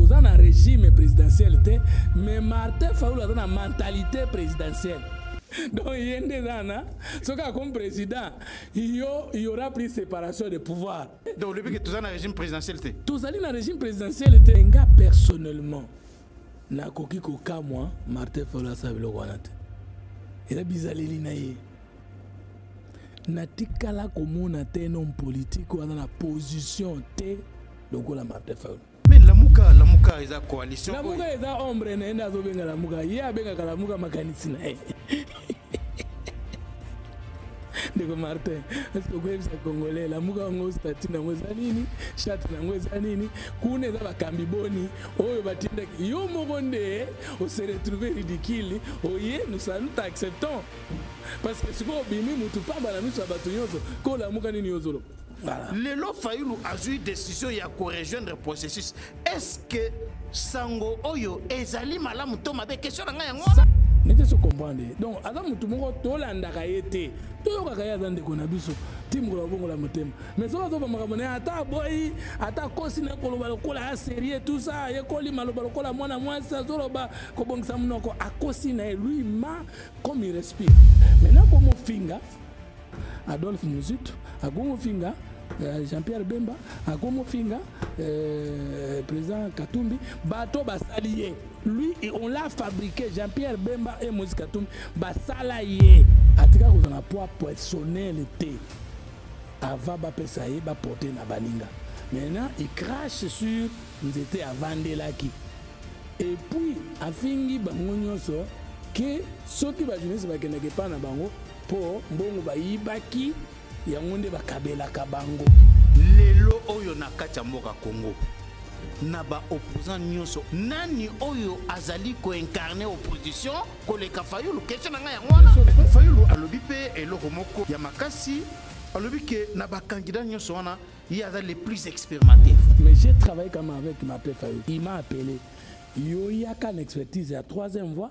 toza na regime présidentiel te mais martin faulu aza na mentalité présidentielle donc ye nde eza na soki akomi président yo y aura plus séparation de pouvoir donc olobi ke toza na régime présidentiel te tozali na régime présidentiel te nga personnellement nakoki kokamwa martin faulu asala biloko wana te eza bizaleli na ye natikala komona te nom politique oyo aza na position te lokola martin faul mais lamuka lamuka eza coalition lamuka eza ombre na ye nde azobenga lamuka ye abengaka lamuka makanisi na ye ndeko martin eske okoyebisa congolais lamuka yango stati na yango eza nini chate na yango eza nini kuna eza bakambi boni oyo batindaki yo moko nde ose retrouve ridicule oye oh nous nous t'acceptons parce que sikoyo obimi motu pamba na miso ya bato nyonso ko lamuka nini yo ozoloba Voilà. lelo fayulu azwi décision ya korejoindre processus est ce que sango oyo ezali malamu to mabe question na ngai yango wana nete so comprendre donc aza motu moko tolandaka ye te toyokaka ye aza ndeko na biso ti mokolo babongola motema mais soki azoba makambo na ye ata aboyi ata akosi na koloba lokola ya serie tout ça ayekoli maloba lokola mwana mwasi azoloba kobongisa monoko akosi na ye lui ma comme il respire maintenant komofinga Adolphe Muzitu akomo finga euh, Jean-Pierre Bemba akomo finga euh, président Katumbi bato basali ye lui on l'a fabriqué Jean-Pierre Bemba et Moïse Katumbi basala ye atika kozala poids personnel te avant bapesa ye baporte na baninga maintenant il crache sur nzete avandelaki et puis afingi bango nyonso ke soki bajournaliste bakendaka epai na bango Po mbongo bayibaki yango nde bakabelaka bango. Lelo oyo na kati ya mboka Congo na ba opposants nyonso nani oyo azali koincarne opposition koleka fayulu kestion na ngai yango wana fayulu alobi mpe eloko moko ya makasi alobi ke na bakandida nyonso wana ye aza le plus expérimenté mais j'ai travaillé kama avec mape fayulu il m'a appelé yo yaka na expertise ya troisième voie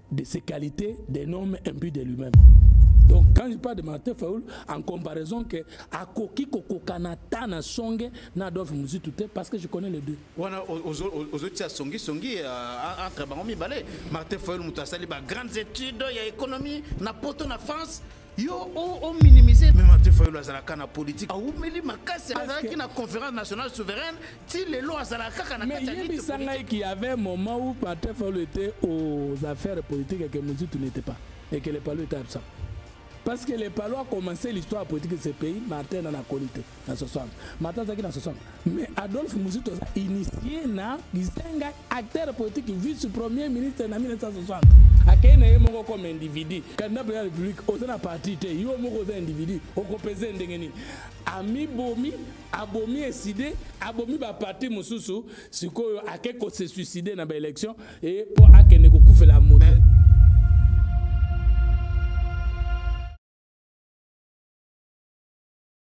de ses qualités, des normes imbues de lui-même. Donc quand je parle de Martin Fayoul, en comparaison que Akoki Kokokana Tana Songe na Adolphe Muzitu te parce que je connais les deux. Wana ozotia songi songi euh, entre bango mibale. Martin Fayoul mutu asali ba grandes études ya économie na poto na France yo o minimiser mais Martin Fayulu azalaka na politique awumeli makasi azalaki na conférence nationale souveraine ti lelo azalaka kaka na kati ya yebisa ngai qu'il y avait un moment où Martin Fayulu était aux affaires politiques et que Mobutu n'était pas et que les Palus étaient absents parce que les Palus a commencé l'histoire politique de ce pays Martin en a connu na 60 mata azalaki na 60 mais adolphe muzito aza initie na gizenga acteur politique vice premier ministre na 1960 akei na ye moko comme individu candidat président ya république oza na parti te yo moko oza individu okopese ndenge nini amibomi abomi eside abomi baparti mosusu sikoyo ake kose suicide na baélection e mpo akende kokufela moto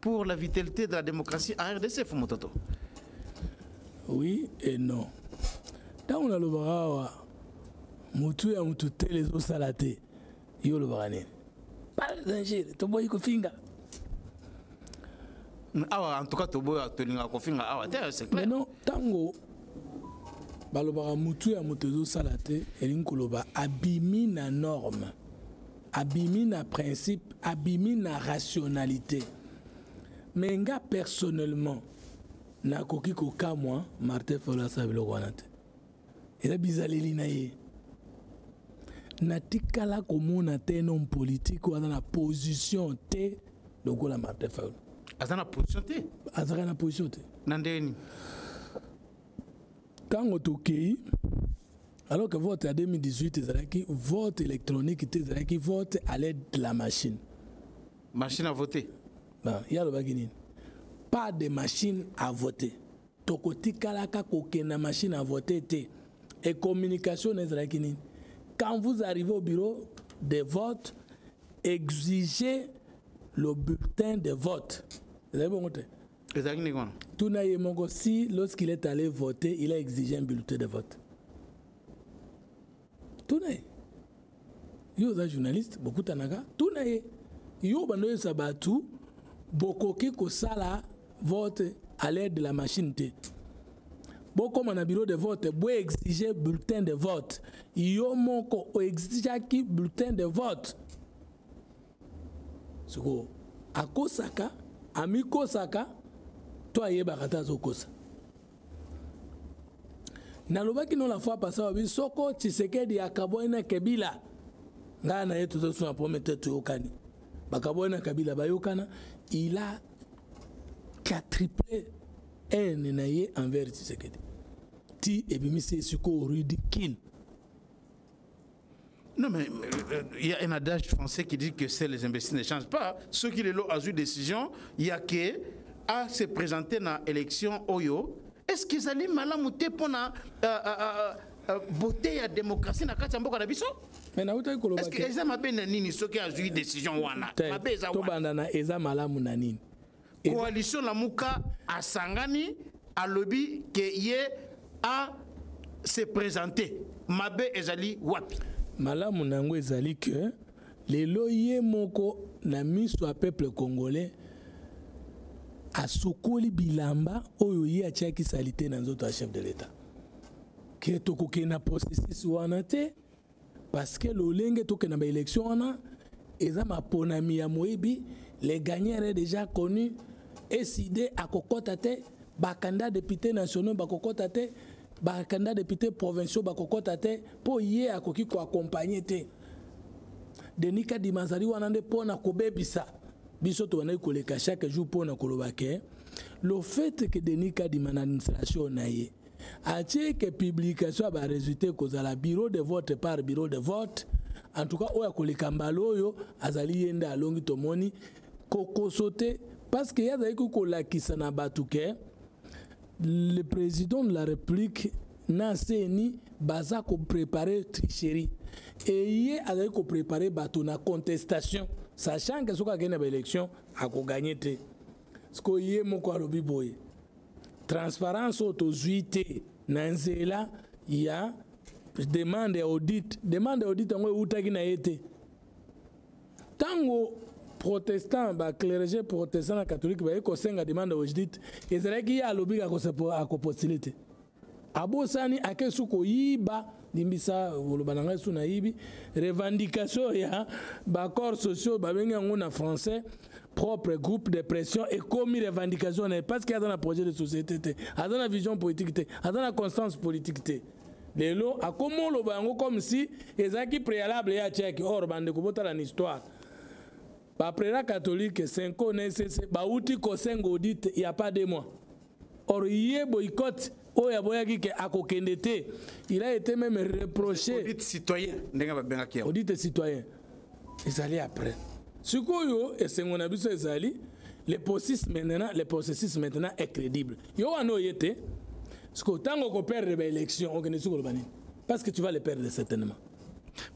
Pour la vitalité de la démocratie en RDC, Fumototo Oui et non. Tant on a le bras, mutu ya mutu tele zo salate. Yo le bras Pas danger, to boy ko finga. Awa en tout cas to boy to linga ko finga awa te c'est clair. Mais non, tango balobaka mutu ya moto ezosala te elingi koloba abimi na norme abimi na principe abimi na rationalité mais nga personnellement nakoki kokamwa martin folo asala biloko wana te eza bizaleli na ye natikala komona te nom politique oyo aza na position te lokola martin folo aza na position te azalaka na position te na ndenge nini ntango tokei alors que vote ya 2018 ezalaki vote électronique te ezalaki vote à l'aide de la machine machine à voter bon, ye alobaki nini pas de machine à voter tokotikalaka kokenda machine à voter te et communication na ezalaki nini quand vous arrivez au bureau de vote exigez le bulletin de vote ezali bongo te ezalaki ndenge wana tuna ye moko si lorsqu'il est allé voter il a exigé un bulletin de vote tuna ye yo oza journaliste bokutanaka tuna ye yo bando oyebisa bato bokoki kosala vote à l'aide de la machine te bokoma na bureau de vote boexige bulletin de vote yo moko oexigaki bulletin de vote sikoyo akosaka amikosaka to ayebaka te azokosa nalobaki no la fois pasa babi soko tshisekedi akabwani na kabila ngai na ye tozosuna pome te toyokani bakabwani na kabila bayokana il a quatriple haine na ye envers tshisekedi ti ebimisi ye sikoyo ridicule Non, mais euh, euh, il y a un adage français qui dit que c'est les imbéciles ne changent pas. Ceux qui les l'ont a eu décision, il y a que à se présenter dans l'élection Oyo. Est-ce qu'ils allaient malamouté pour la euh, beauté et la démocratie dans la mboka na biso? Mais na utaki koloba que eza mabe na nini soki azui décision wana? Mabe eza wana. Tobanda na eza malamu na nini? coalition lamuka asangani alobi ke ye a se présenter mabe ezali wapi malamu na yango ezali ke lelo ye moko na miso ya peuple congolais asukoli bilamba oyo ye atiaki salite na nzoto ya chef de l'etat ke tokokende na processus wana te parce que lolenge tokende na baélection wana eza maponami ya moyibi le gagneur est déjà connu eside akokɔta te bakanda député nationaux bakokɔta te bakanda député provinciaux bakokɔta te mpo ye akoki koaccompagne te denis kadima azali wana nde mpo na kobebisa biso tobandaki koleka chaque jour mpo na koloba ke le fait que denis kadima na administration na ye atieke publication ya baresultat ekozala bureau de vote par bureau de vote en tout cas oyo akoleka mbala oyo azali ye nde alongi tomoni kokoso te parce que ye azalaki kolakisa na bato ke le président de la république na cni baza koprepare tricherie eye azali koprepare bato na contestation sachant ke soki akei na baélection akogagne te sikoyo ye moko alobi boye transparence oyo tozwi te na nzela ya demande ya audit demande ya audit yango eutaki na ye te ntango protestant baclerge protestant na catholique baye kosenga demande ya audit ezalaki ye alobi akopostile te abosani ake su koyiba limbisa koloba na ngai su nayibi revendication ya baaccord sociaux babengi yango na français propre groupe de pression ekomi revendication na ye parce que aza na projet de société te aza na vision politique te aza na constance politique te lelo akomi oloba yango comme si ezalaki préalable ya tcheke or bandeko botala na histoire ba prera catholique senko na esese bauti kosenga audit ya pas de mois or ye boycotte oyo aboyaki ke akokende te il a été même reproché audit citoyen ndenge babengaki yango audit citoyen ezali après sikoyo esengo na biso ezali le processus maintenant le processus maintenant est crédible yo wana oye te sikoyo ntango okoperdre baélection okende soki oloba nini parce que tu vas le perdre certainement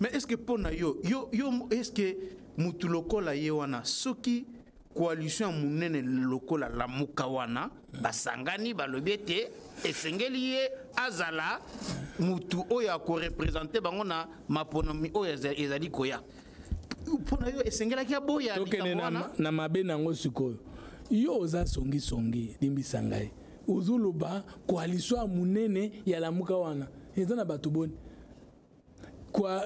mais est ce que mpo na yo yo yo est ce que mutu lokola ye wana soki coalition ya monene lokola lamuka wana basangani balobi ete esengeli ye azala mutu oyo akorepresente bango na maponomi oyo ezali koya mpo na yo esengelaki aboya tokende na, na mabe na yango sikoyo yo oza songisongi limbisa ngai ozoloba koalisio ya monene ya lamuka wana eza na bato boni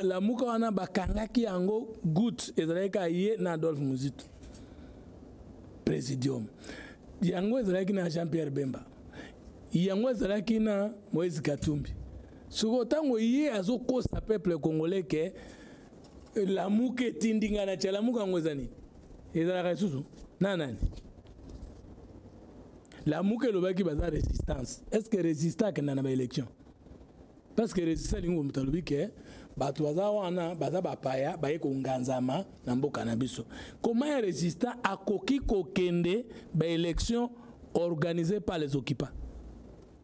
lamuka wana bakangaki yango gout ezalaki kaka ye na adolphe muzitu présidium yango ezalaki na jean pierre bemba yango ezalaki na moïse katumbi soko ntango ye azokosa peuple congolais ke lamuka etindi ngai na tya lamuka yango eza nini ezalaka lisusu na nani lamuka elobaki baza resistance est ce que resista akenda na baélection parce que resistance alingi moto alobi ke bato baza wana baza bapaya baye konganzama na mboka na biso koma ya resistant akoki kokende baélection organisée par les occupants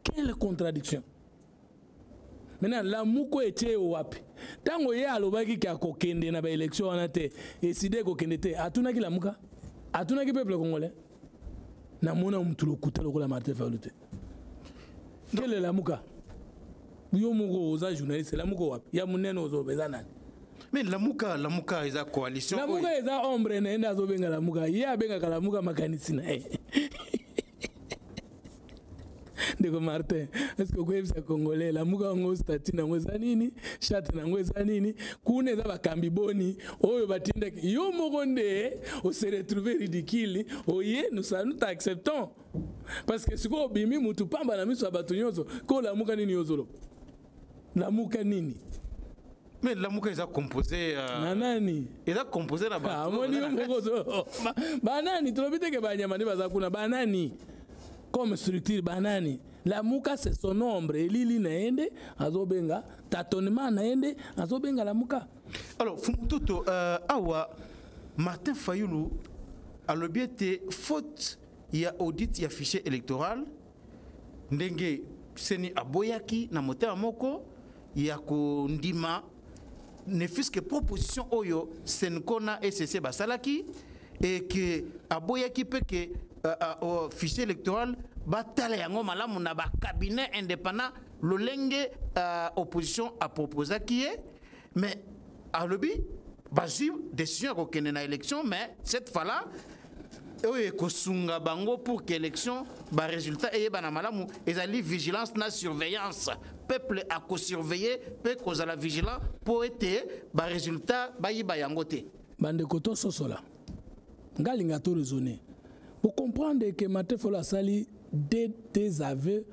quelle contradiction maintenant lamuku etie ye wapi ntango ye alobaki ke akokende na baélection wana te eside ekokende te atunaki lamuka atunaki peuple congolais namona motu lokuta lokola martin fayulu te nkele lamuka yo moko oza journaliste lamuka wapi ya monene ozoloba eza nani me lamuka lamuka eza coalition lamuka eza ombre na ye nde azobenga lamuka ye abengaka lamuka makanisi na ye ndeko martin eske okoyebisa congolais lamuka yango stati nango eza nini chate nango eza nini kuna eza bakambi boni oyo batindaki yo moko nde ose retrouve ridicule oye nous t'acceptons parce que sikoyo obimi motu pamba na miso ya bato nyonso ko lamuka nini yo ozoloba lamuka nini mais lamuka eza composé uh, na nani eza composé na bato amoni ah, yo moko to banani tolobi te ke banyama nde baza kuna banani comme structure banani lamuka se son nombre elili na ye nde azobenga tatonement na ye nde azobenga lamuka alors fumututo uh, awa martin fayulu alobi ete faute ya audit ya fichier électoral ndenge seni aboyaki na motema moko ya kondima ne fût-ce que proposition oyo senco na ecc basalaki et que aboyaki mpe ke uh, uh, uh, fichier électoral batala yango malamu na bacabinet indépendant lolenge uh, opposition aproposaki ye mais alobi bazwi décision ya kokende na élection mais cette fois là oyo ekosunga bango pour que élection baresultat eyebana malamu ezali vigilance na surveillance peuple akosurveille mpe kozala vigilant mpo ete baresultat bayiba yango te bandeko tososola nga linga to raisonner pour comprendre que Martin Fayulu asali des des aveux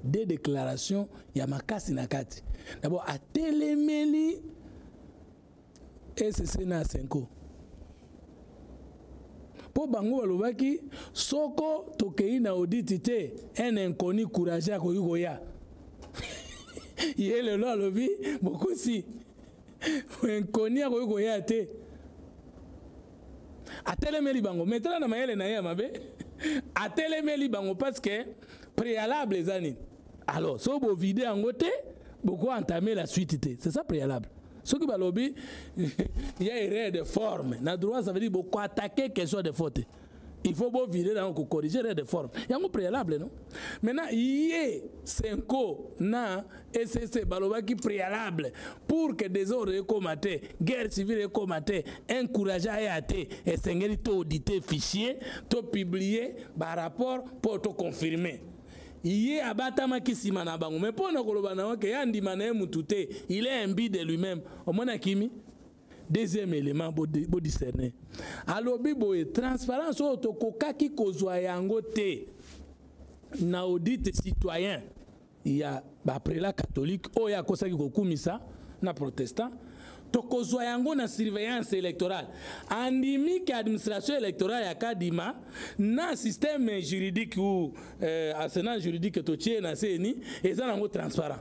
des déclarations ya makasi na kati d'abord atelemeli ECC na Senko mpo bango balobaki soko tokei na auditi te un inconnu courage akoki koya ye lelo alobi bokosi inconnu akoki koya te atelemeli bango me tala na mayele na ye ya mabe atelemeli bango parce que préalable eza nini alors so bovide yango te bokoentame la suite te c'est ça préalable soki balobi ya erreur de forme na droit ça veut dire bokoatake question de faute te il faut bo virer na ko corriger les réformes yango préalable non maintenant ye senko na ECC balobaki préalable pour que désordre ekoma te guerre civile ekoma te encourage aya te esengeli to auditer fichier to publier ba rapport pour to confirmer ye abatamaki nsima na bango me mpo na koloba na yo ke ye andima na ye motu te il est imbi de lui-même omona kimi deuxième élément bodiscerne alobi boye transparence oyo tokokaki kozwa yango te na audite citoyen ya baprela catholique oyo akosaki kokumisa na protestant tokozwa yango na surveillance électorale andimi ke administration électorale ya kadima na système juridique ou euh, arsenal juridique totie na ceni eza nango transparent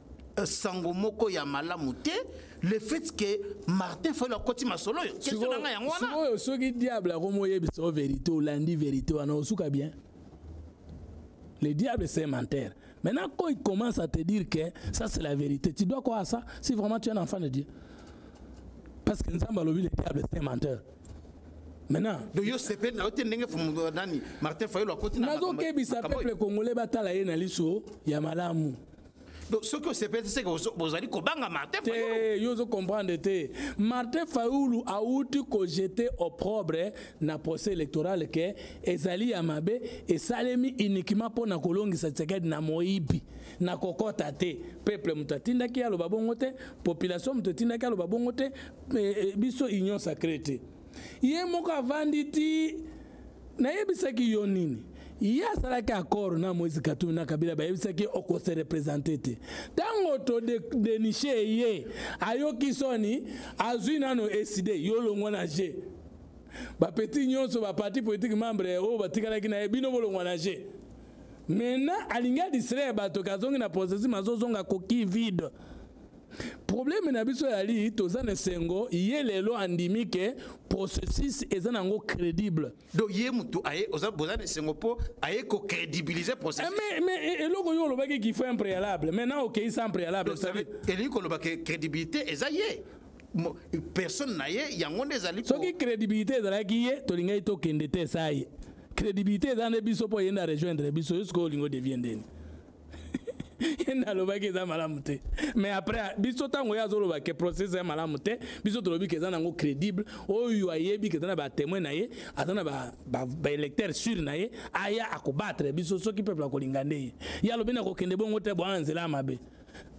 Euh, sango moko ya malamu te le fait que martin fayulu akoti masolo oyo kestion na ngai yango wana oyo soki diable akomi oyebisa o verité olandi verité wana osuka bien le diable c'est menteur maintenant quand il commence à te dire que ça c'est la vérité tu dois quoi à ça si vraiment tu es un enfant de dieu parce que nzambe alobi le diable c'est menteur maintenant donc yo sepeli na yo te ndenge nani martin fayulu akoti nazokebisa peuple congolais batala ye na liso ya malamu donc soki osepeli te seke bozali kobanga martin te yo ozo comprendre te martin fayulu awuti kojete opprobre na procès électoral ke ezali ya mabe esalemi uniquement mpo na kolongisa tshisekedi na moyibi na kokɔta te peuple moto atindaki aloba bongo te population moto etindaki aloba bongo te eh, eh, biso union sacré te ye moko avandi ti nayebisaki yo nini ye asalaki accord na moïse katumi na kabila bayebisaki okose represente te ntango todenishe ye ayoki soni azwi nano eside yo longwa na je bapeti nyonso baparti politike membre oyo batikalaki na ye bino bolongwa na je maintenant alingi adistraire bato ke azongi na processus mazozonga koki vide probleme na biso yali toza na esengo ye lelo andimi ke processus eza na yango crédible donc ye motu aye oza boza na esengo mpo aye kocrédibilise processus eh, mais, mais eh, eloko yo olobaki qu'il faut un préalable maintenant okei sans préalable elingi koloba ke crédibilité eza ye personne na ye yango nde ezali soki crédibilité ezalaki ye tolingaki tokende te esa ye crédibilité eza nde biso mpo yende arejoindre biso yo sikoyo olingi odevie ndeni ye nde alobaki eza malamu te mais après biso ntango ye azoloba ke processus ya malamu te biso tolobi ke eza nango crédible oyo ayebi ke eza na batemoin na ye aza na baélecteur ba, ba sur na ye aya akobatre biso soki peuple akolinga nde ye ye alobi na kokende bongo te boa nzela ya mabe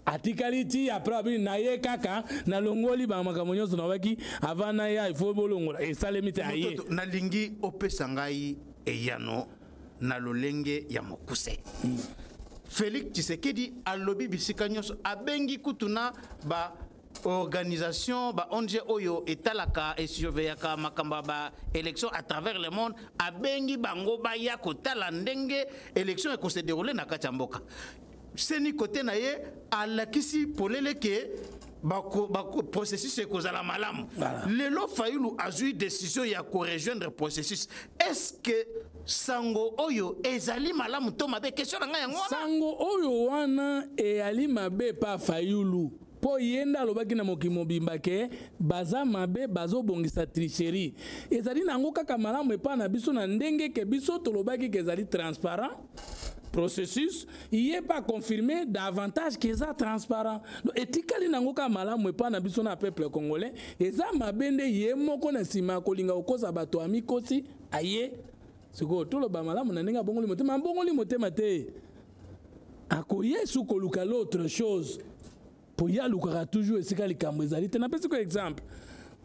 atikali ti après abi na ye kaka nalongoli bamakambo nyonso nabaki avant na ya ifo bolongola esalemi te aye nalingi opesa ngai eyano na lolenge ya mokuse mm. félix tshisekedi alobi bisika nyonso abengi kutu na ba organisation ba ong oyo etalaka esurveillaka makambo ya ba élection à travers le monde abengi bango baya kotala ndenge élection ekose déroule na kati ya mboka seni kote na ye alakisi polele ke bako, bako, processus ekozala malamu voilà. lelo fayulu azwi décision ya korejoindre processus est ce que sango oyo ezali malamu to mabe question na ngai yango wana sango oyo wana eyali mabe pa fayulu mpo ye nde alobaki na mokili mobimba ke baza mabe bazobongisa tricherie ezali na yango kaka malamu epai na biso na ndenge ke biso tolobaki ke ezali transparent processus ye mpe aconfirme davantage ke eza transparent donc etikali na yango kaka malamu epai na biso na peuple congolais eza mabe nde ye moko na nsima ya kolinga kokosa bato amikosi aye sikoyo toloba malamu na ndenge abongoli motema abongoli motema te akoye su koluka l'autre chose mpo ye alukaka toujours esika likambo ezali te napesi ko exemple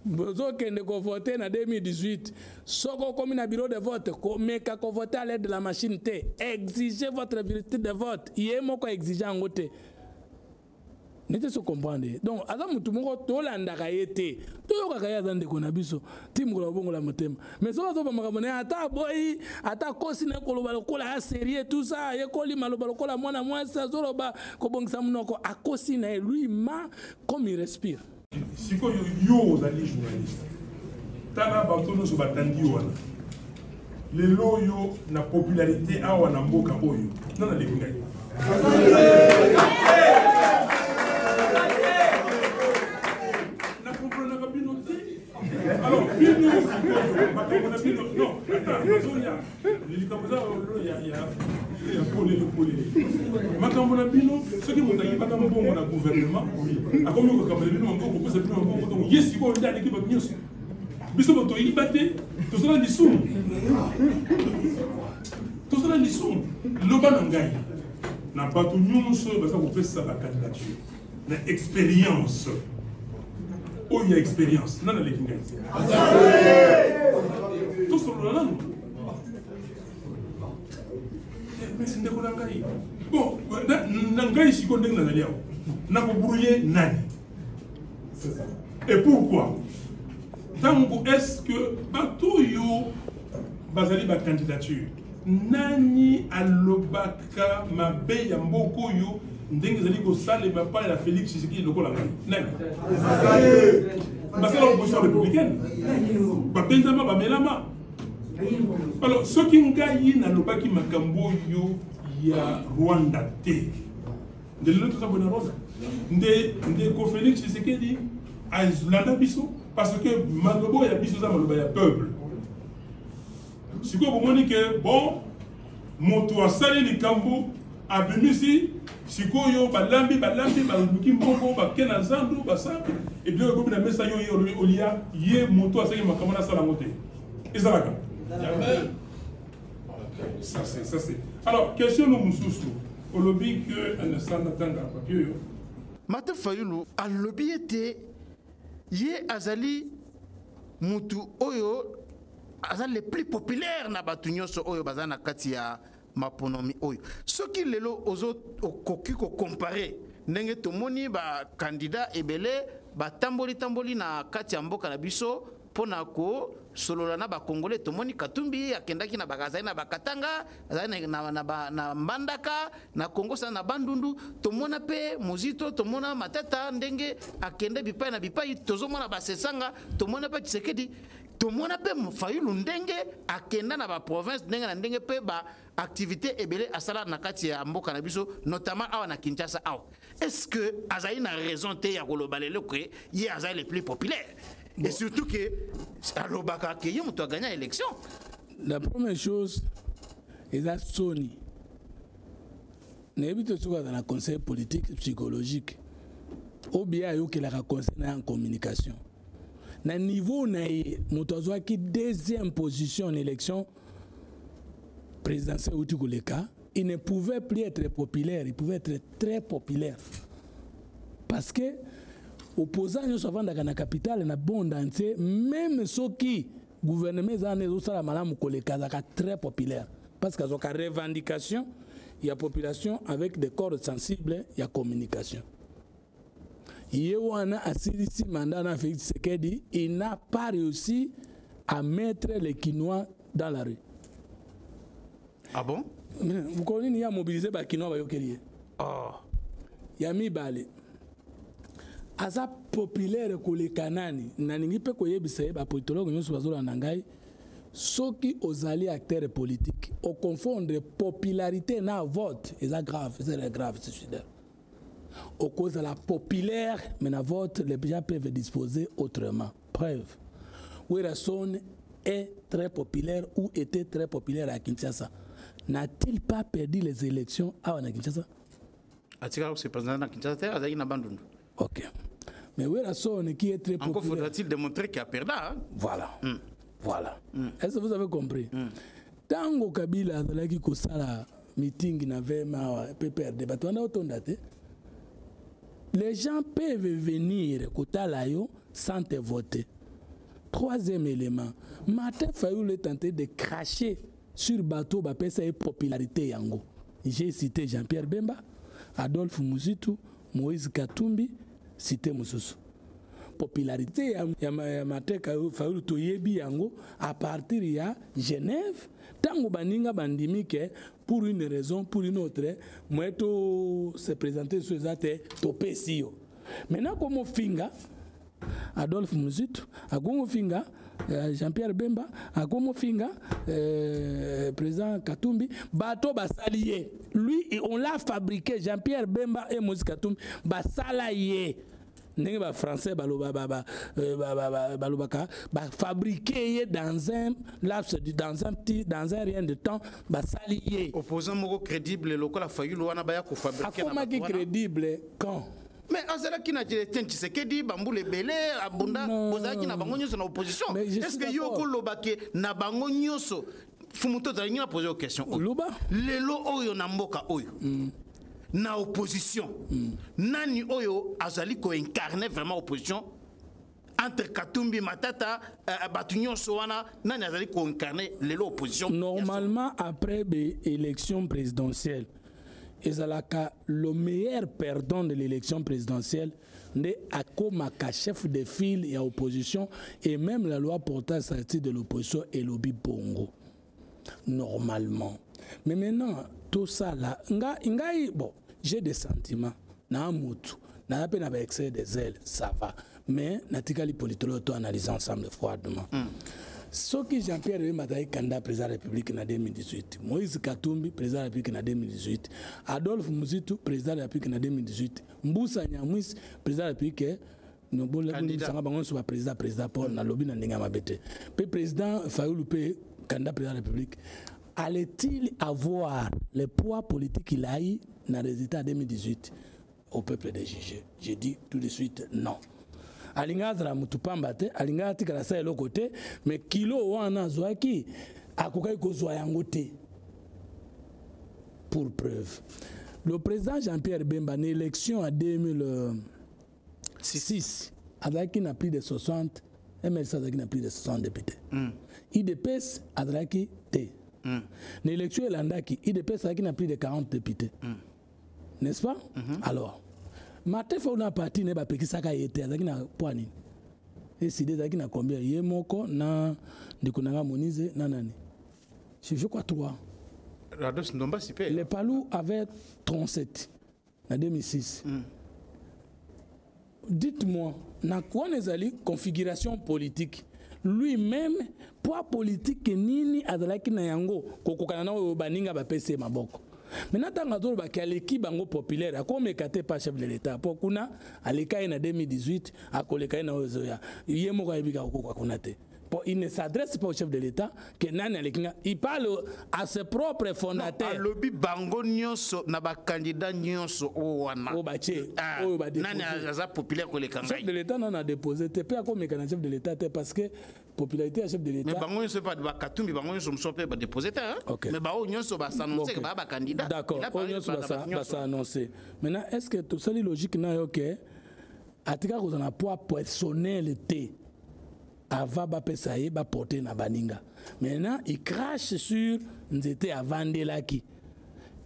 bozokende kovote na 2018 soki okomi na bureau de vote komeka kovote à l'aide de la machine te exige votre virtude de vote ye moko exige yango te nete so comprendre ye donc aza motu moko tolandaka ye te toyokaka ye aza ndeko na biso ti mokolo abongola motema mais soki azoba makambo na ye ata aboyi ata akosi na koloba lokola ya serie tout ça ayekoli maloba lokola mwana mwasi azoloba kobongisa monoko akosi na ye lui ma comme il respire sikoyo yo ozali journaliste tala bato nyonso batandi wana lelo oyo na popularité awa na mboka oyo na naleki ngai na komprenaka bino te alors bino sikoyo makambo na bino non ata nazoya likambo eza lolo ya polele polele makambo na bino soki moto ayibaka mbongo na gouvernement akomi kokamba na bino maboko kopesa bino maboko donc ye sikoyo nde aleki bato nyonso biso bato toyiba te tosala lisumu tosala lisumu loba na ngai na bato nyonso oyo baza kopesa bakandidature na experience oyo ya experience nani aleki ngai tosolola nanu eh, mesi ndeko na ngai bon na ngai siko ndenge nazali awa nakobrouye nani et pourquoi ntango est ce que bato oyo bazali bacandidature nani alobaka ka mabe ya mboka oyo ndenge ezali kosalema epai ya félix tshisekedi lokola ngai nani basala opposition républicaine babenzama bamelama alors soki ngai nalobaki makambo oyo ya rwanda te nde lelo toza boye na rwanda nde ndeko félix tshisekedi alanda biso parce que maloba ya biso eza maloba ya peuple sikoyo bomoni ke bon moto asali likambo abimisi sikoyo balambi balambi baluki mbongo bake na zandu basambi ebilo ekomi na mesa yo ye olobi olia ye moto asali makambo nasala yango te ezalaka ça c'est ça c'est alors question no mosusu olobi que anasanda tanga papier oyo mate fayulu alobi ete ye azali mutu oyo aza le plus populaire na bato nyonso oyo baza na kati ya maponomi oyo soki lelo ozo okoki kokompare ndenge tomoni bakandida ebele batamboli tamboli na kati ya mboka na biso mpo na kosolola na bakongole tomoni katumbi akendaki na azali na bakatanga azali na, na, na, na mbandaka na kongo sana na bandundu tomona mpe mozito tomona matata ndenge akende bipai na bipai tozomona basesanga tomona mpe tshisekedi tomona mpe fayulu ndenge akenda na baprovince ndenge na ndenge mpe baactivité ebele asala na kati ya mboka na biso notamment awa na kinshasa awa est ce que azali na raison te ya koloba lelo ke ye azali le plus populaire bon. et surtout ke alobaka ke ye moto agagna élection la première chose eza soni nayebi te soki aza na conseil politique psychologique oyo biye ayokelaka conseil na ya communication na niveau na ye moto azwaki deuxième position en élection présidentielle euti koleka il ne pouvait plus être populaire il pouvait être très populaire parce que opposant nyonso avandaka na capitale na bonde entier meme soki gouvernement eza wana ezosala malamu koleka azalaka très populaire parce que azwaka revendication ya population avec des corps sensibles ya communication ye wana asilisi mandat na Félix Tshisekedi il n'a pas réussi à mettre les Kinois dans la rue ah bon mokolo nini ye amobilize bakinois bayokeli ye oh. ya mibale aza populaire koleka nani nalingi mpe koyebisa ye bapolitologe nyonso bazolanda ngai soki ozali acteur politique oconfondre popularité na vote eza grave eza grave suicidaire okozala populaire mais na vote les gens peuvent disposer autrement preuve werrason est très populaire ou était très populaire à kinshasa n'a-t-il pas perdu les élections awa na kinshasa atikala kose président na kinshasa te azalaki na bandundu ok mais werrason qui est très populaire encore faudra-t-il démontrer qu'il a perdu hein? voilà mm. voilà mm. est-ce que vous avez compris mm. tango kabila azalaki kosala meeting na vema awa pprd bato wana otonda te les gens peuvent venir kotala yo sans te voter troisième élément martin fayulu est tenté de cracher sur bato bapesa ye popularité yango j'ai cité jean pierre bemba adolphe muzitu moïse katumbi cité mosusu popularité ya, ya, ya mateka fayulu toyebi yango à partir ya genève Tango baninga bandimi que pour une raison, pour une autre, moi to se présenter sur ça te topesi yo. Maintenant comme ofinga Adolphe Muzitu, akomo finga euh, Jean-Pierre Bemba, akomo finga euh, président Katumbi, bato basali ye. Lui on l'a fabriqué Jean-Pierre Bemba et Moïse Katumbi basala ye. ndenge ba français baloba ba, ba, euh, ba, ba, ba, balobaka ba fabriquer ye dans un laps du dans un petit dans un rien de temps basali ye opposant moko crédible lokola fayulu wana baya ko fabriquer akomaki crédible quand mais azalaki na etienne tshisekedi bambula ebele abunda bozalaki na bango nyonso na opposition est ce que yo okoloba ke na bango nyonso fumu to ozalingi na pose yo question oyo lelo oyo na mboka oyo mm. na opposition mm. nani oyo azali koincarne vraiment opposition entre katumbi matata uh, bato nyonso wana nani azali koincarne lelo opposition normalement après baélection présidentielle ezalaka le meilleur perdant de l'élection présidentielle nde akomaka chef de file ya opposition et même la loi portant statut de l'opposition elobi bongo normalement mais maintenant tosala nga ngai bon j'ai des sentiments na mutu na pe na ba excès des ailes ça va mais natikali politologue to analyse ensemble froidement mm. soki jean pierre bemba azali kanda président ya république na 2018 moïse katumbi président ya république na 2018 adolphe muzitu président ya république na 2018 mbusa nyamwisi président ya république bolemisanga bango nyonso baprésident président paul nalobi na ndenge ya mabe te mpe président fayulu mpe candidat président ya république allait-il avoir le poids politique qu'il a eu na résultat ya 2018 au peuple de juger je dis tout de suite non alinga azala motu pamba te alinga atikala sa eloko te mais kilo wana azwaki akokaki kozwa yango te pour preuve le président jean-pierre bemba na élection ya 2000 6 azalaki na plus de 60 mlc azalaki na plus de 60 député mm. idps azalaki te mm. na élection elandaki idps azalaki na plus de 40 député mm. n'est-ce pas mm -hmm. alors martin fau na parti na ye bapekisaka ye te azalaki na poids nini eside ezalaki na combien ye moko na ndeko na ngai monize na nani je crois 3 Rados Ndombasi pe. Les Palou avait 37. na 2006 mm. dites-moi na quoi ezali configuration politique lui-même poids politique nini azalaki na yango kokokana na oyo baninga bapesi ye maboko maintenant ntango azolobaki aleki bango populaire akomeka te pa chef de l'état mpo kuna aleka ye na 2018 akoleka ye na oyo ezoya ye moko ayebi kaka kokoka kuna te Pour, il ne s'adresse pas au chef de l'État que nani alekinga. Il parle à ses propres fondateurs. Non, alobi bango nyoso na ba candidats nyoso o wana. O bache. Ah, o ba nani aza populaire ko le kangai. Chef de l'État non a déposé te pe ako mekana chef de l'État te parce que popularité ya chef de l'État. Mais bango nyoso pas ba katumbi bango nyoso mso pe ba déposé te hein. Okay. Mais bango nyoso ba s'annoncer okay. ba ba candidats. D'accord. O nyoso ba s'annoncer. Maintenant est-ce que tout ça logique na yo que atika kozala na poids personnel te avant bapesa ye baporte na baninga maintenant il crache sur nzete avandelaki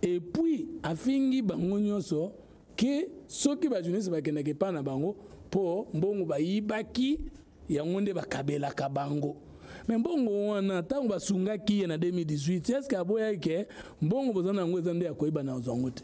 epuis afingi bango nyonso ke soki bajournaliste bakendaki epai na bango mpo mbongo bayibaki yango nde bakabelaka bango me mbongo wana ntango basungaki ye na 2018 eske aboyaki ke mbongo boza na yango eza nde ya koyeba na ozwa yango te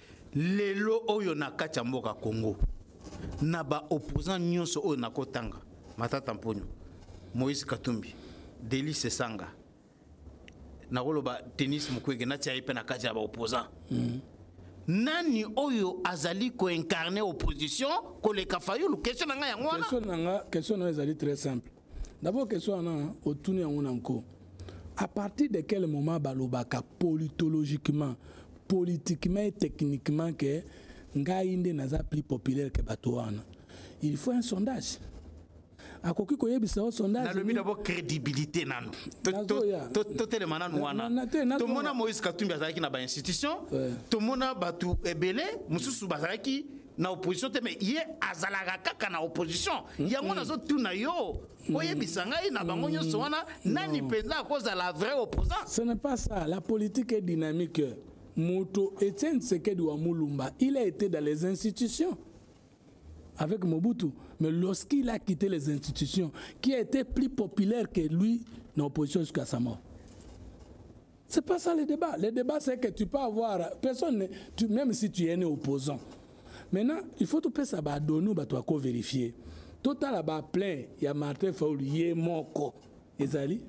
lelo oyo na kati ya mboka congo na baopposant nyonso oyo nakotanga matata mponyo moïse katumbi delice sanga nakoloba tennis mukwege natia ye mpe na kati ya baopposant mm. nani oyo azali koincarne opposition koleka fayulu question na ngai yango wana question na ngai ezali très simple D'abord question wana otuni yango na nko. À partir de quel moment balobaka politologiquement, politiquement et techniquement que ngai nde naza plus populaire que bato wana? Il faut un sondage. akoki koyebisa yo sondage nalobi dabo crédibilité nano totelema nano wana tomona moïse katumbi azalaki na bainstitution tomona bato ebele mosusu bazalaki na opposition te mais ye azalaka kaka na opposition yango nazotuna yo oyebisa ngai na bango nyonso wana nani mpenza akozala vrai opposant ce n'est pas ça la politique est dynamique moto etienne sekedi wa mulumba il a été dans les institutions avec Mobutu. Mais lorsqu'il a quitté les institutions, qui a été plus populaire que lui dans l'opposition jusqu'à sa mort. C'est pas ça le débat. Le débat, c'est que tu peux avoir personne, tu, même si tu es né opposant. Maintenant, il faut tout ça, bah, donner, bah, toi, vérifier. Total, là bah, plein, il y a Martin Faoul, il est moko. Ezali?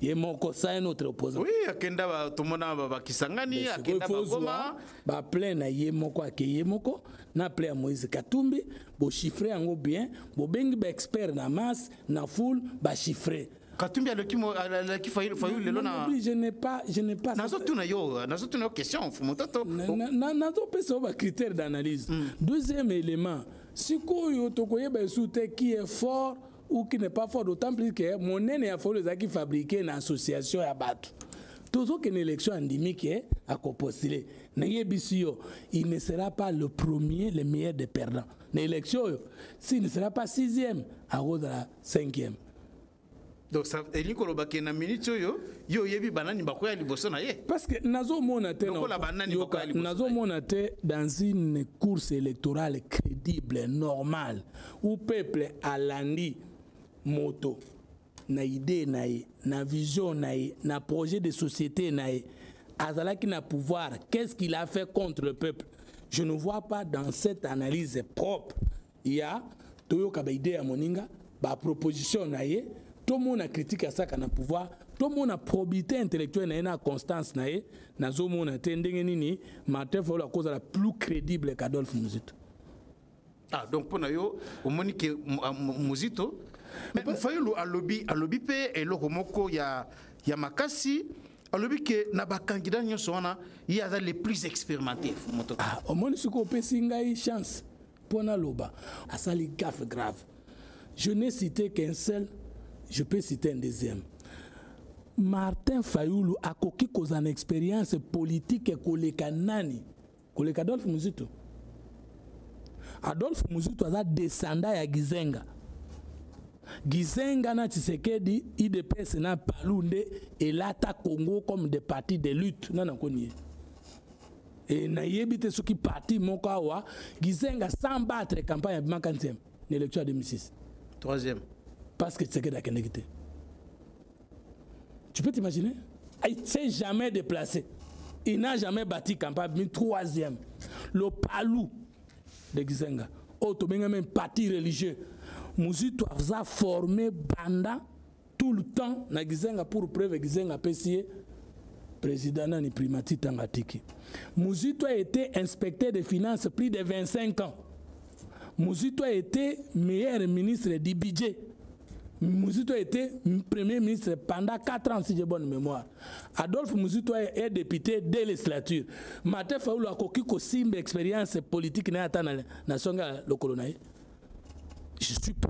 ye moko sa ye notre opposant oui akenda tomona bakisangani akenda bagoma baplein na ye moko ake ye moko na plein ya moïse katumbi bochiffre yango bien bobengi baexpert na masse na foule bachiffre Katumbi aleki mo aleki Fayulu Fayulu lelo na je n'ai pas je n'ai pas Nazo tuna yo nazo tuna yo question fumototo Nazo pesa ba critères d'analyse hmm. Deuxième élément sikoyo tokoyeba esu te qui est fort ou qui n'est pas fort d'autant plus que monene ya Fayulu ezalaki fabriqué na association ya bato tozokende élection andimi ke akopostule nayebisi yo il ne sera pas le premier le meilleur des perdants na élection oyo s'il ne sera pas sixième akozala cinquième donc ça elingi koloba ke na minute oyo yo oyebi banani bakoya liboso na ye parce que nazomona te lokola banani bakoya liboso nazomona te dans une course électorale crédible normale où peuple alandi moto na idée na ye na vision na ye na projet de société na ye azalaki na pouvoir qu'est-ce qu'il a fait contre le peuple je ne vois pas dans cette analyse propre ya toyoka ba idee ya moninga ba proposition na ye tomona critique asaka na pouvoir tomona probité intellectuelle na ye na constance na ye nazomona te ndenge nini martin fayulu akozala plus crédible qu'adolphe muzito ah donc mpo na yo omoni ke ah, muzito fayulu alobi alobi mpe eloko moko ya, ya makasi alobi ke na bacandidat nyonso wana ye aza le plus expérimenté moto ah, omoni soki opesi ngai chance Mpo naloba asali gaffe grave. Je n'ai cité qu'un seul, je peux citer un deuxième. Martin Fayulu akoki kozala na experience politique koleka nani? Koleka Adolphe Muzito. Adolphe Muzito aza descendant ya Gizenga. Gizenga na Tshisekedi, IDPS na Palu nde elata Congo comme des partis de lutte. Nana koni ye. e nayebi te soki parti moko awa gizenga sans battre campagne abimaka nzembe na élection ya 2006 troisième parce que tshisekedi akendeki te tu peux t'imaginer il s'est jamais déplacé il n'a jamais bâti campagne abimi troisième le palou de gizenga oyo oh, tobengami parti religieux muzito aza forme banda tout le temps na gizenga pour preuve gizenga apesi ye président nani primati ntango atiki muzito a été inspecteur de finance plus de 25 ans muzito a été meilleur ministre du budget muzito a été premier ministre pendant 4 ans si j'ai bonne mémoire adolphe muzito est député de législature mate faulu akoki kosimba expérience politique na ye ata na songe ya lokolo na ye je suis pas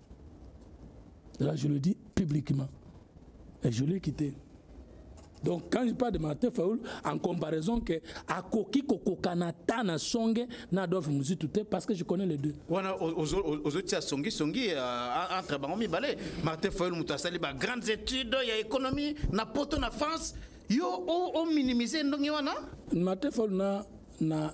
Là, je le dis publiquement. Et je l'ai quitté. Donc quand je parle de Martin Fayoul, en comparaison que Akoki Kokokana Tana Songe Nadolf Muzitute, parce que je connais les deux. Voilà, aux autres, Songi Songi, euh, entre Bangomi Balé, Martin Fayoul Moutasali, bah, grandes études, il y a économie, na poto na France, yo, on minimise Ndongi Wana Martin Fayoul na, na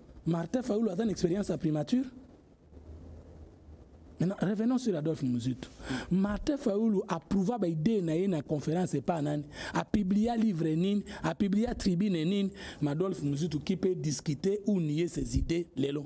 Martin Fayulu a une expérience à primature Maintenant, revenons sur Adolphe Muzutu. Martin Fayoulu a prouvé ba idée na une conférence et pas nani, a publié un livre nini, a publié un tribune nini, Adolphe Muzutu qui peut discuter ou nier ses idées lelo.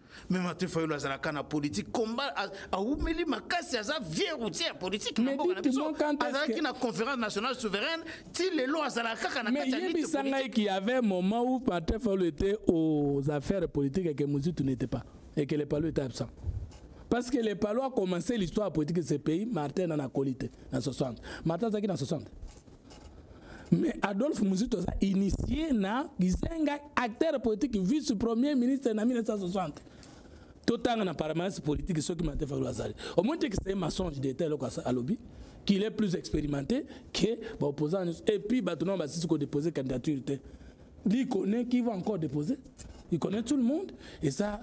mais Martin Fayulu azalaka na politique combat awumeli makasi aza vieux routier ya politique na mboka na biso azalaki na conférence nationale souveraine ti lelo azalaka kaka na kati ya lutte politique mais qu'il y avait un moment où Martin Fayulu était aux affaires politiques et que Muzitu n'était pas et que les Palus étaient absents parce que les Palus a commencé l'histoire politique de ce pays Martin en a colité en 60 Martin azalaki na 60 mais adolphe muzito aza initie na kizenga acteur politique vice premier ministre na 1960 totanga na permanence politique soki martin fayulu azali omoni te kiseye mensonge d'état eloko alobi qu'il est plus expérimenté que baopposant nyonso et puis bato nao basisi kodépose candidature te lui connaît qui va encore déposer il connaît tout le monde et ça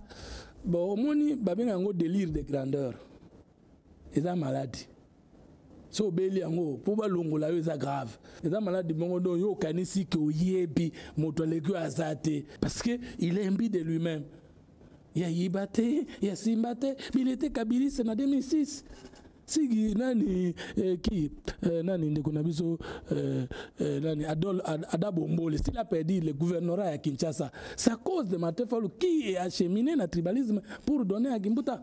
bon omoni babenga yango délire de grandeur eza maladi so obeli yango mpo balongola yo eza grave eza maladi moko donc yo okanisi ke oyebi moto aleki oyo aza te parce que il est imbi de lui-même ya yiba te ya simba te bilete kabiliste na 2006 sigi nani eh, ki eh, nani ndeko na biso eh, eh, nani adol ad, ada bombole s'il a perdu le gouvernorat ya kinshasa c'est à cause de matefalu qui est acheminé na tribalisme pour donner à kimbuta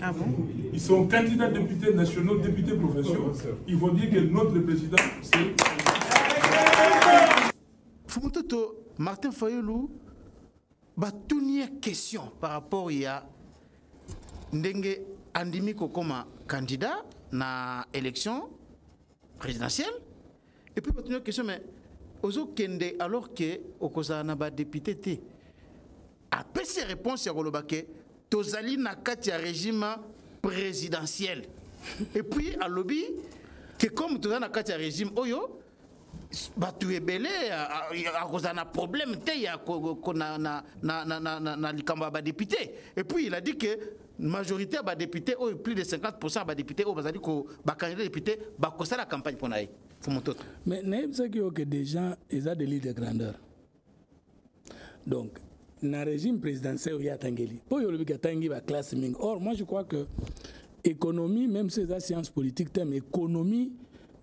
Ah bon Ils sont candidats députés nationaux, députés provinciaux. Ils vont dire que notre président, c'est... Fumutoto, Martin Fayulu, batuni ya question par rapport ya ndenge andimi kokoma candidat na élection présidentielle Et puis batuni question mais ozokende alors que okozala na ba député te. Apesi réponse ya koloba ke tozali na kati ya régime présidentiel. Et puis alobi que comme tozali na kati ya régime oyo bato ebele akozala na problème te ya na likambo ya badepute et puis il a dit que majorité ya badepute oyo plus de 50 ya badepute oyo bazali bakandida depute bakosala campagne mpo na ye fumototo mais nayebisaki yo ke déjà eza de lille de grandeur donc na régime présidentiel oyo ye atangeli mpo oyo olobiki atangi baklasse mingi or moi je crois que économie même si eza science politique te mais économie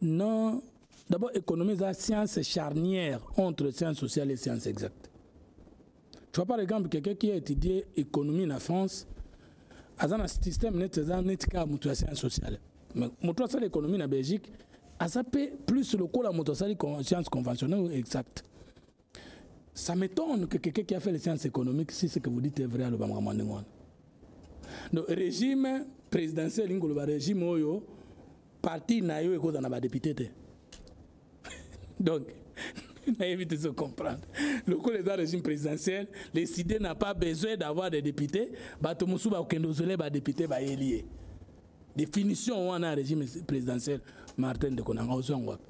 non d'abord économie eza science charnière entre science sociale et science exacte tu vois par exemple quelqu'un qui a étudié économie na France aza na système neti aza neti kaka moto ya science sociale mais moto asala économie na belgique aza mpe plus lokola moto asali science conventionnelle exacte ça m'étonne que quelqu'un qui a fait les sciences économiques si ce que vous dites est vrai aloba makambo ndenge wana donc régime présidentiel elingi koloba régime oyo parti na yo ekozala na badepute te donc nayebi te comprendre lokola eza régime présidentiel le side n'a pas besoin d'avoir des députés bato mosusu bakokende ozole badepute bayeli ye définition wana ya régime présidentiel martin ndeko na ngai ozwa yango wapi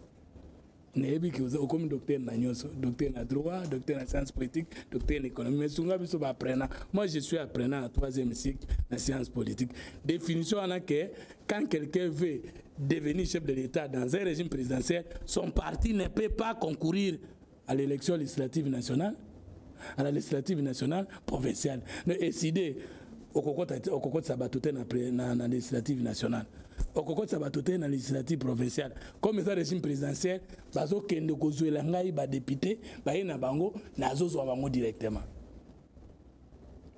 nayebi ke okomi docteur na nyonso docteur na droit docteur na science politique docteur na économie mais sunga biso baapprenant moi je suis apprenant na troisième cycle na science politique définition wana ke Quand quelqu'un veut devenir chef de l'État dans un régime présidentiel, son parti ne peut pas concourir à l'élection législative nationale, à la législative nationale provinciale. Ne décider okokotisa bato te na, na législative nationale okokotisa bato te na législative provinciale comme eza régime présidentiel bazokende kozwela ngai badepute baye na bango nazozwa bango directement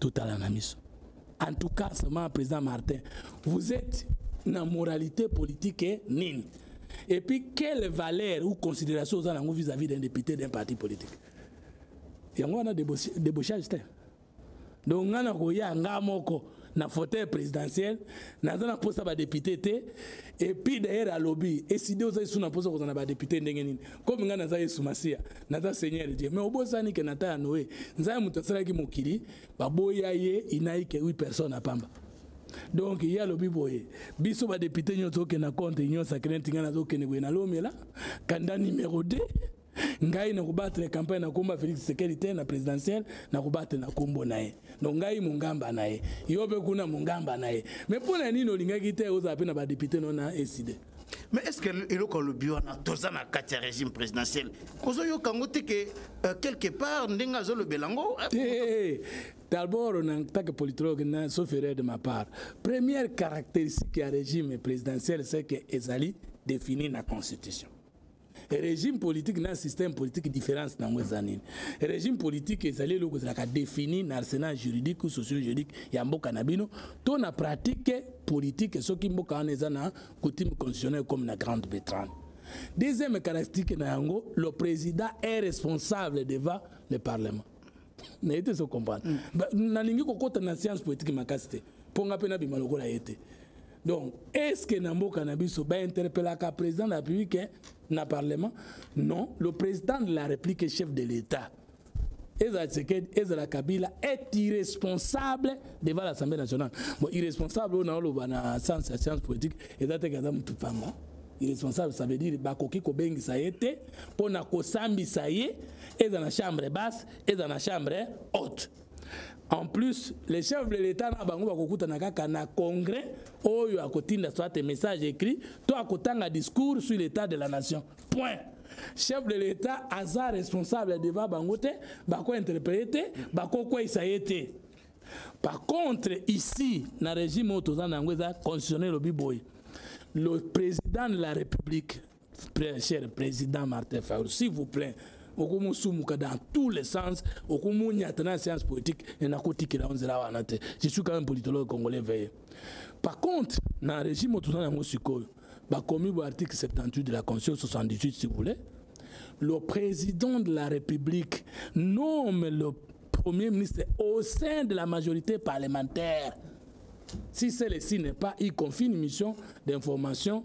totala na miso en tout cas seulement président martin vous êtes na moralité politique eh, nini et puis quelle valeur ou considération oza nango vis-à-vis d'un député d'un parti politique yango wana débauchage te donc ngai nakoya ngai moko na fauteuil présidentiel naza na mposa badepute te epuis dayere alobi eside oza esu na mposa kozala na badepute ndenge nini komi ngai naza yesu masiya naza seigneur die mais obosani ke na ta ya noe nzambe moto asalaki mokili baboya ye inaike 8 personne na pamba donc ye alobi boye biso badepute nyonso okenda compte union sacré ntinga nazokende boye nalomela kanda numero 2 ngai na kobattre campagne na komba Felix Tshisekedi te na présidentielle na kobattre na kombo na ye donc ngai mongamba na ye yo pe kuna mongamba na ye mais mpo na nini olingaki te ozala pe na ba député no na eside mais est ce que eloko alobi wana toza na kati ya régime présidentiel ozoyoka yango te ke euh, quelque part ndenge azolobela yango eh, eh, eh, d'abord en tant que politologue na sauf erreur de ma part première caractéristique ya régime présidentiel c'est que ezali défini na constitution régime politique na système politique différence nango eza nini régime politique ezali eloko ezalaka défini na arsenal juridique ou socio juridique ya mboka na bino to na pratique politique soki mboka wana eza na coutume constitutionnelle comme na grande bretagne deuxième caractéristique na yango le président est responsable devant le parlement naye te ezocomprendre mm. nalingi kokota na science poétique makasi te mpo nga mpe nabima lokola ye te donc est ce que na mboka na biso bainterpellaka président de la république hein, na parlement non le président de la république est chef de l'état ezala tshisekedi ezala kabila est irresponsable devant l'assemblée nationale bon irresponsable oyo naoloba na science ya science politique eza teke aza motu pamba irresponsable ça veut dire bakoki kobengisa ye te mpo na kosambisa ye eza na chambre basse eza na chambre haute en plus les chefs de l'état na bango bakokutana kaka na congrès oyo akotinda soit message écrit to akotanga discours sur l'état de la nation point chef de l'état aza responsable devant bango te bakointerpele te bakokweisa ye te par contre ici na régime oyo toza na yango eza constitutionnel obi boye le président de la république cher président martin faul s'il vous plaît okomosumuka dans tous les sens okomonyata na séance politique e nakotikela yo nzela wana te je suis quand même politologue congolais veille par contre na régime oyo toza na yango sikoyo bakomi bo article 78 de la constitution 78 si vous voulez le président de la république nomme le premier ministre au sein de la majorité parlementaire si celle-ci n'est pas il confie une mission d'information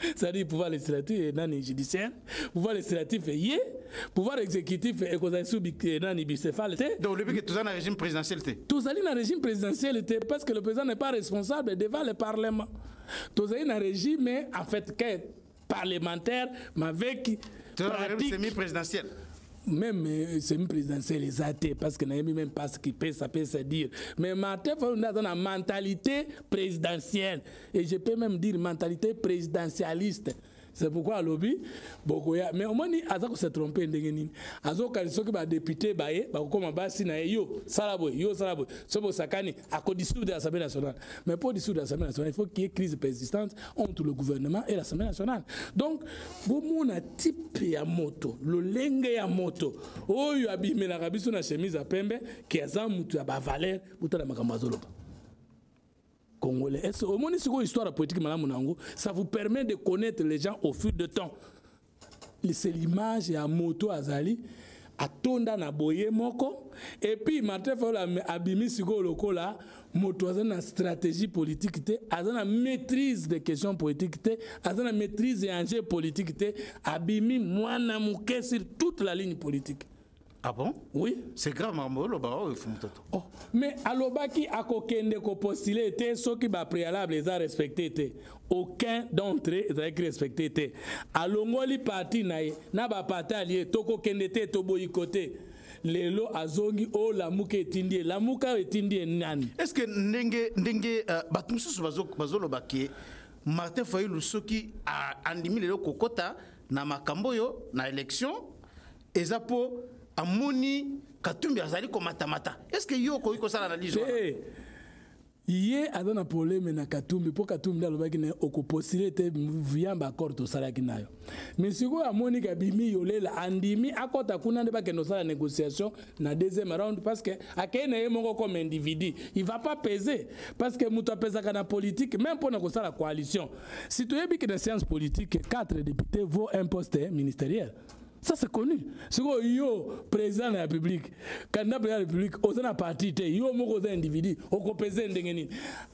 c'est-à-dire pouvoir législatif et nani judiciaire pouvoir législatif ye pouvoir exécutif ekozali sous eh, nani bicéphale te donc olobi ke toza na régime présidentiel te tozali na régime présidentiel te parce que le président n'est pas responsable devant le parlement tozali na régime en fait que parlementaire mais avec pratique semi-présidentielle même euh, semi présidentiel eza te parce que nayebi même pas ce qui pesa pesa dire mais martin fayulu nde aza na mentalité présidentielle et je peux même dire mentalité présidentialiste c'est pourquoi alobi bokoya mais omoni aza kose trompe ndenge nini azokanisa soki badepute baye bakokoma basi na ye yo sala boye yo sala boye soki bosakani akodisoudre l'assemblée nationale mais mpo disoudre l'assemblée nationale il faut qu'il y ait crise persistante entre le gouvernement et l'assemblée nationale donc bomona type ya moto lolenge ya moto oyo abimelaka biso na chemise ya pembe ke aza moto ya bavaleur botala makambo azoloba congolais est ce omoni sikoyo histoire ya politique malamu na yango ça vous permet de connaître les gens au fil de temps c'est l'image ya moto azali atonda na boye moko epuis martin fayola abimi sikoyo lokola moto aza na stratégie politique te aza na maîtrise de question politique te aza na maîtrise ya enjeu politique te abimi mwana moke sur toute la ligne politique Ah bon Oui. C'est grave makambo oloba oyo fumu toto. Oh, mais alobaki akokende ko postuler te soki ba préalable eza respecté te. Aucun d'entre eux ezalaki respecté te. Alongoli parti na ye na ba parti allié tokokende te toboyi kote. lelo azongi o oh, lamuka etindi ye lamuka oyo etindi ye nani est ce que ndenge ndenge uh, bato mosusu bazoloba bazo ke martin fayulu soki andimi lelo kokɔta na makambo oyo na élection eza mpo amoni katumbi azali komatamata est ce que yo okoki kosala analyse wana eh, ye aza na probleme na katumbi mpo katumbi nde alobaki na okopostile te via baaccord tosalaki nayo me sikoyo amoni kabimi yolela andimi akɔta kuna nde bakende kosala négociation na deuxième round parce que akei na ye moko comme individu il va pas peser parce que moto apesaka na politique même mpo na kosala coalition si toyebi ke na science politique 4 député vaut un poste ministériel ça c'est connu sikoyo yo président de la république candidat président de la république oza na parti te yo moko oza individu okopese ndenge nini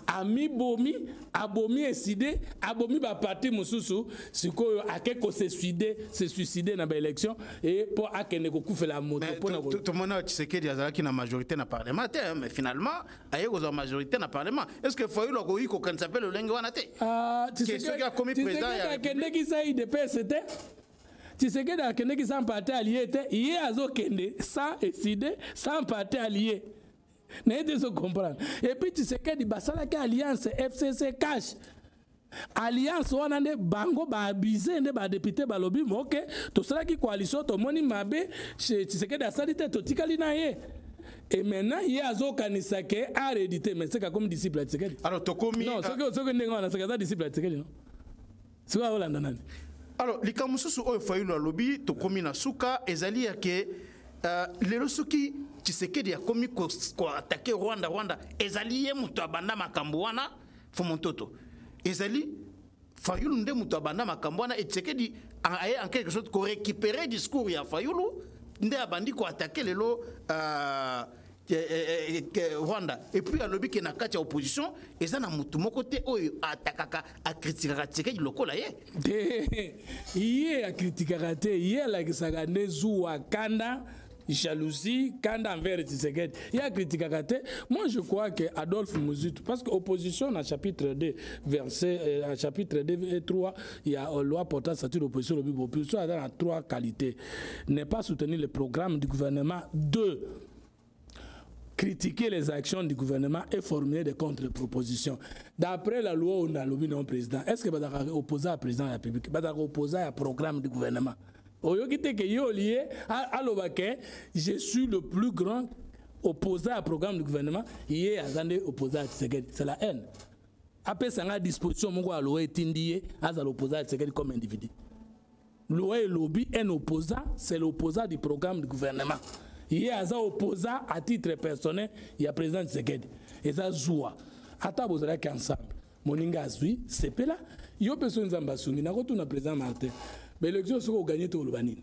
amibomi abomi eside abomi baparti mosusu sikoyo ake kosesuide se suicide na baélection e mpo akende kokufela moto mpona tomona tshisekedi azalaki na majorité na parlement te mais finalement aye kozwa majorité na parlement est ce que fayulu akoki kokanisa mpe lolenge wana te ah, soki akomi président ya akendeki sai de pese te tshisekedi akendeki sans parti alie te ye azokende sans eside sans parti alie na ye te ezocomprendre epuis tshisekedi basalaki alliance fcc cash alliance wana nde bango baabuse nde badepute balobi moke tosalaki coalition tomoni mabe tshisekedi asali te totikali na ye et maintenant ye azokanisa ke aredite mais seka akomi disciple ya tshisekedi alors tokomi soki ndenge wana seka aza disciple ya tshisekedi no sikoyo olanda nani alors likambo mosusu oyo fayulu alobi tokomi na suka ezali ya ke uh, lelo soki tshisekedi akomi koatake ko rwanda rwanda ezali ye moto abanda makambo wana fomontoto ezali fayulu nde moto abanda makambo wana etisekedi aye en quelque sorte korécupere discours ya fayulu nde abandi koatake lelo uh, Eh, eh, eh, rwanda epuis alobi ke na kati ya opposition eza na motu moko te oyo atakaka akritikaka tshisekedi lokola ye te ye akritikaka te ye alakisaka nde zuwa kanda jalousie kanda envers tshisekedi ye akritikaka te moi je crois que adolphe muzitu parce que opposition na chapitre 2 verset euh, chapitre 2 et 3 ya euh, loi portant statut d'opposition lobi opposition aza na trois qualité ne pas soutenir le programme du gouvernement 2 critiquer les actions du gouvernement et formuler des contre-propositions. D'après la loi, on a lobby non président. Est-ce que Badaka opposé à président de la République Badaka opposé à programme du gouvernement oyoki te ke ye olie aloba ke je suis le plus grand opposé à programme du gouvernement ye aza nde opposé à tshisekedi c'est la haine apesa nga disposition moko aloa etindi ye azala opposé à tshisekedi comme individu loi elobi un opposant c'est l'opposant du programme du gouvernement ye aza opposant à titre personnel ya président tshisekedi eza zuwa ata bozalaki ensemble moninga azwi sepela yo mpe soki nzambe asungi nakotuna président martin baélection soki oganye te oloba nini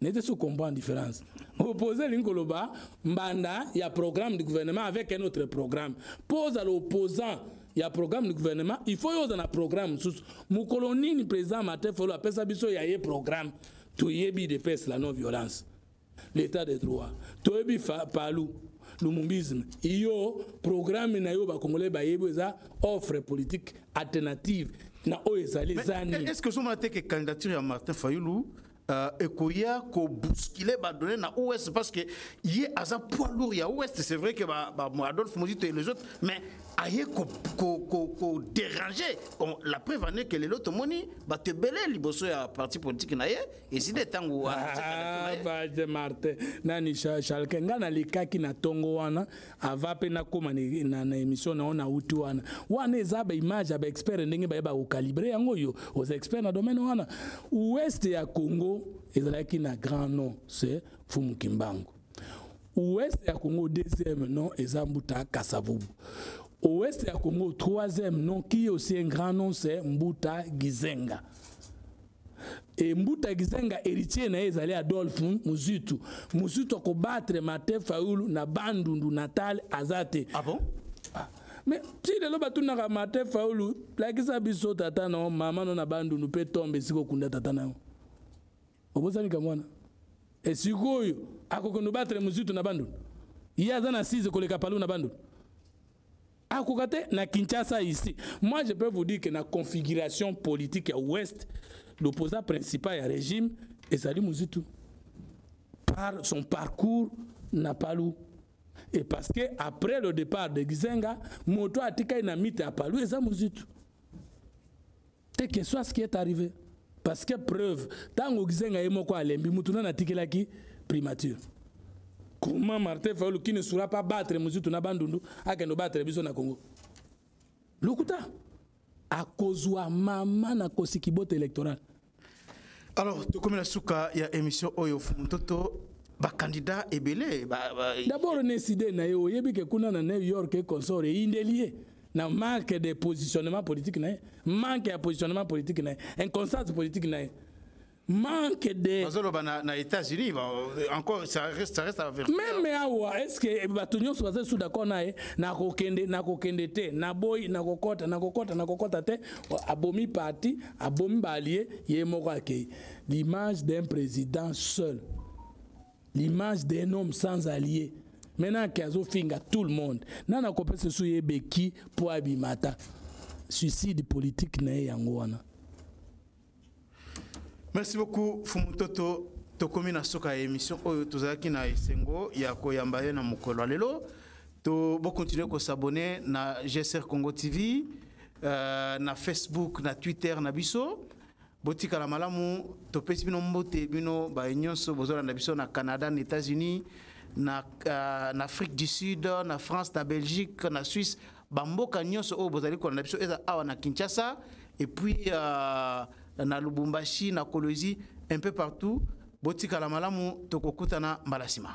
nete so comprendre différence opposé elingi koloba mbanda ya programme du gouvernement avec un autre programme mpo ozala opposant ya programme du gouvernement il faut yo oza na programme mosusu mokolo nini président martin fayulu apesa biso ya ye programme toyebi idps la non violence l'état de droit toyebi palu lumumbisme iyo programme na yo bakongolais bayebi eza offre politique alternative na oyo ezali ezani est ce que ozomona te ke candidature ya martin fayulu euh, ekoya kobuskile badonne na ouest parce que ye aza poids lourd ya ouest c'est vrai que ba, ba, adolphe mozito et les autres mais aye koderange la preuve ane ke lelo tomoni bato ebele liboso ya parti politique na ye ezinde ntango wana martin nani chalke ngai nalikaki na ntongo wana ava mpe nakóma na émission na yo na uti wana wana eza baimage ya baexpert ndenge baye bakokalibre yango oyo oza expert na domaine wana ouest ya congo ezalaki na grand nom se fumu kimbangu ouest ya congo deuxième nom eza mbuta kasavubu ouest ya congo troisième nom qui aussi un grand nom se mbuta gizenga e mbuta kizenga héritier na ye ezali adolphe muzitu muzitu akobattre martin fayulu na bandundu natal aza te ah bon? ah. mais ti lelo batunaka martin fayulu lakisa biso tata na yo mama no na bandundu mpe tombe esika okunda tata na yo obosani ka mwana esikoyo akokende obattre muzitu na bandundu ye aza na 6 koleka palu na bandundu akoka te na kinshasa ici moi je peux vous dire que na configuration politique ya ouest l'opposant principal ya régime ezali muzitu par son parcours na palu et parce que après le départ de gizenga moto atikali na mite ya palu eza muzitu te que soit ce qui est arrivé parce que preuve ntango gizenga ye moko alembi mutu nani atikelaki primature comment martin fayulu qui ne sera pas battre muzitu na bandundu akende obattre biso na congo lokuta akozwa mama na kosiki bote électoral alors tokomi na suka ya émission oyo fumuntoto bacandidat ebele ba, ba... d'abord neside na ye oyebi ke kuna na new york e consort eyindeli ye na manque de positionnement politique na ye manque ya positionnement politique na ye inconstance politique na ye manque de bazoloba na, na états-unis encore ça reste, ça reste avec même awa est ce que bato nyonso baza lisusu d'accord na ye nakokende nakokende te naboyi nakokɔta nakokɔta nakokɔta te abomi parti abomi baalie ye moko akei l'image d'un président seul l'image d'un homme sans allié maintenant ke azofinga tout le monde nani akopesa so ye beki mpo abima ata suicide politique na ye yango wana merci beaucoup fumutoto tokomi na suka ya émission oyo tozalaki na esengo ya koyamba ye na mokolo ya lelo to bokontinue kosabone na gsr congo tv euh, na facebook na twitter na biso botikala malamu topesi bino mbote bino baye nyonso bozolanda biso na canada na états-unis na, uh, na afrique du sud na france na belgique na suisse bamboka nyonso oyo bozali kolanda biso eza awa na kinshasa et puis uh, na lubumbashi na kolozi un peu partout botikala malamu tokokutana mbala nsima